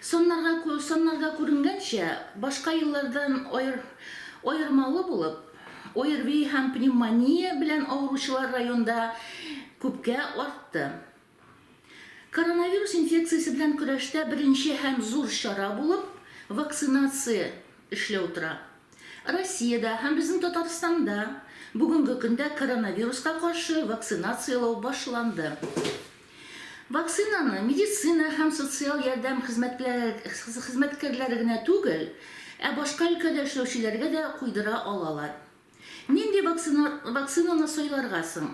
Саннарга күренгәнчә, башка еллардан аермалы булып, ОРВИ һәм пневмония белән авыручылар районда күпкә артты. Коронавирус инфекциясе белән көрәштә беренче һәм зур чара булып вакцинация эшләү тора. Россиядә һәм безнең Татарстанда бүгенге көндә коронавируска каршы вакцинацияләү башланды. Вакцинаны медицина һәм социаль ярдәм хезмәткәрләре генә түгел, ә башка өлкәдә эшләүчеләргә дә куйдыра алалар. Нинди вакцинаны сайларга соң?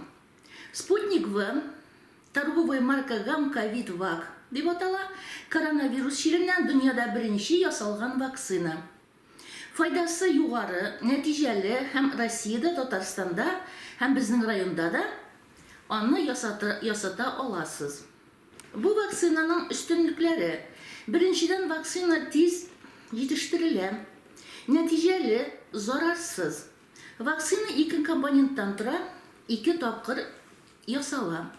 Sputnik V, торговый марка Gamcovid Vac дип атала, коронавирус чиреннән дөньяда беренче ясалган вакцина. Файдасы югары, нәтиҗәле һәм Россиядә, Татарстанда һәм безнең районда да аны ясата ясата аласыз. Бу вакцинаның өстенлекләре, беренчедән, вакцина тиз җитештерелә, нәтиҗәле, зарарсыз. Вакцина ике компоненттан тора, ике тапкыр ясала.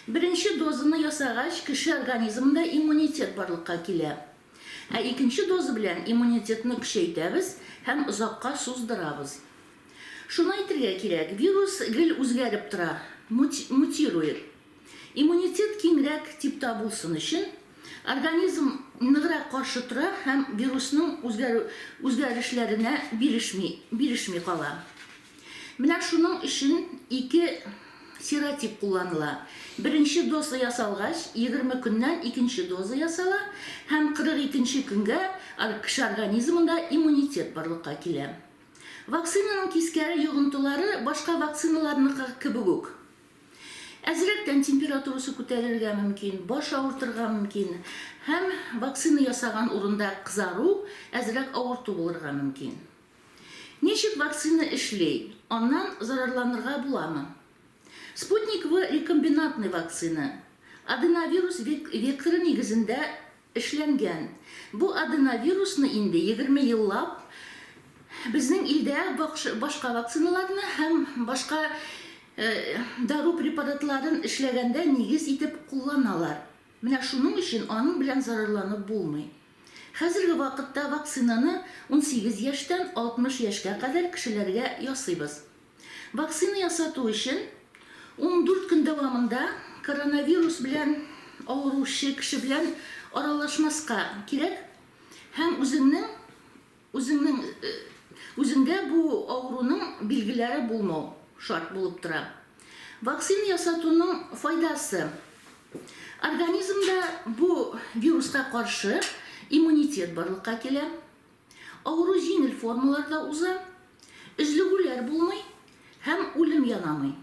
Беренче дозаны ясагач, кеше организмында иммунитет барлыкка килә. Ә икенче доза белән иммунитетны көчәйтәбез һәм озакка суздырабыз. Шуны әйтергә кирәк, вирус гел үзгәреп тора, мутирует. Иммунитет киңрәк типта булсын өчен, организм ныграк каршы тора һәм вирусның үзгәрешләренә бирешми кала. Менә шуның өчен ике серотип кулланыла. Беренче доза ясалгач, егерме көннән икенче доза ясала һәм кырык икенче көнгә кеше организмында иммунитет барлыкка килә. Вакцинаның тискәре йогынтылары башка вакциналарныкы кебек үк. Әзрәктән температурасы күтәрелергә мөмкин, баш авыртырга мөмкин һәм вакцина ясаган урында кызару, әзрәк авырту булырга мөмкин. Ничек вакцина эшли, аннан зарарланырга буламы? Спутник-В рекомбинантный вакцина. Аденовирус векторы нигезендә эшләнгән. Бу аденовирусны инде егерме еллап безнең илдә башка вакциналарны һәм башка дару препаратларын эшләгәндә нигез итеп кулланалар. Менә шуның өчен аның белән зарарланып булмый. Хәзерге вакытта вакцинаны унсигез яшьтән алтмыш яшькә кадәр кешеләргә ясыйбыз. Вакцина ясату өчен ундүрт көн дәвамында коронавирус белән авыручы кеше белән аралашмаска кирәк һәм үзеңнең Үзеңнең үзеңдә бу авыруның билгеләре булмау шарт булып тора. Вакцина ясатуның файдасы, организмда бу вируска каршы иммунитет барлыкка килә, авыру җиңел формаларда уза, өзлегүләр булмый һәм үлем янамый.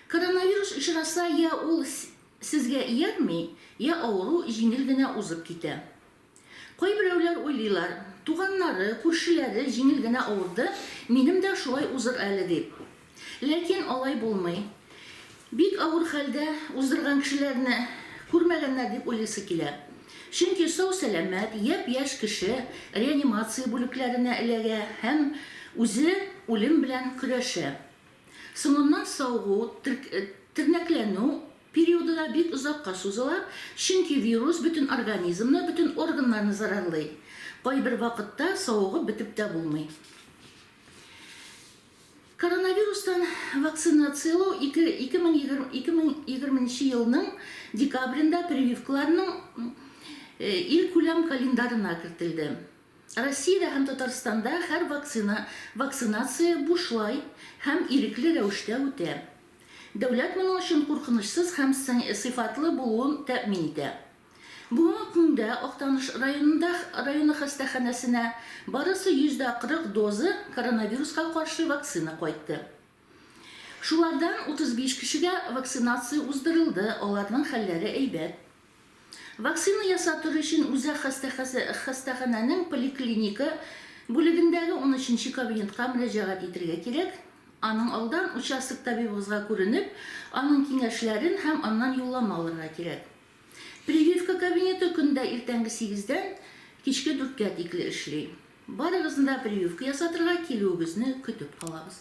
Коронавирус очраса, я ул сезгә иярми, я авыру җиңел генә узып китә. Кайберәүләр уйлыйлар, туганнары, күршеләре җиңел генә авырды, минем дә шулай узыр әле дип. Ләкин алай булмый. Бик авыр хәлдә уздырган кешеләрне күрмәгәннәр дип уйлыйсы килә. Чөнки сау-сәламәт, япь-яшь кеше реанимация бүлекләренә эләгә һәм үзе үлем белән көрәшә. Соңыннан савыгу, тернәкләнү Периоды да бик озакка сузыла, чөнки вирус бөтен организмны, бөтен органнарны зарарлый. Кайбер вакытта савыгып бетеп тә булмый. Коронавирустан вакцинацияләү 2020 нче елның декабрендә прививкаларның илкүләм календарына кертелде. Россиядә һәм Татарстанда һәр вакцина вакцинация бушлай һәм ирекле рәвештә үтә. Дәүләт моның өчен куркынычсыз һәм сыйфатлы булуын тәэмин итә. Бүгенге көндә Актаныш районында районы хастаханәсенә барысы 140 доза коронавируска каршы вакцина кайтты. Шулардан 35 кешегә вакцинация уздырылды, аларның хәлләре әйбәт. Вакцина ясатыр өчен үзәк хастаханәнең поликлиника бүлегендәге унөченче кабинетка мөрәҗәгать итергә кирәк. Аның алдан участок табибыгызга күренеп, аның киңәшләрен һәм аннан юллама алырга кирәк. Прививка кабинеты көндә иртәнге сигездән кичке дүрткә тикле эшли. Барыгызны да прививка ясатырга килүегезне көтеп калабыз.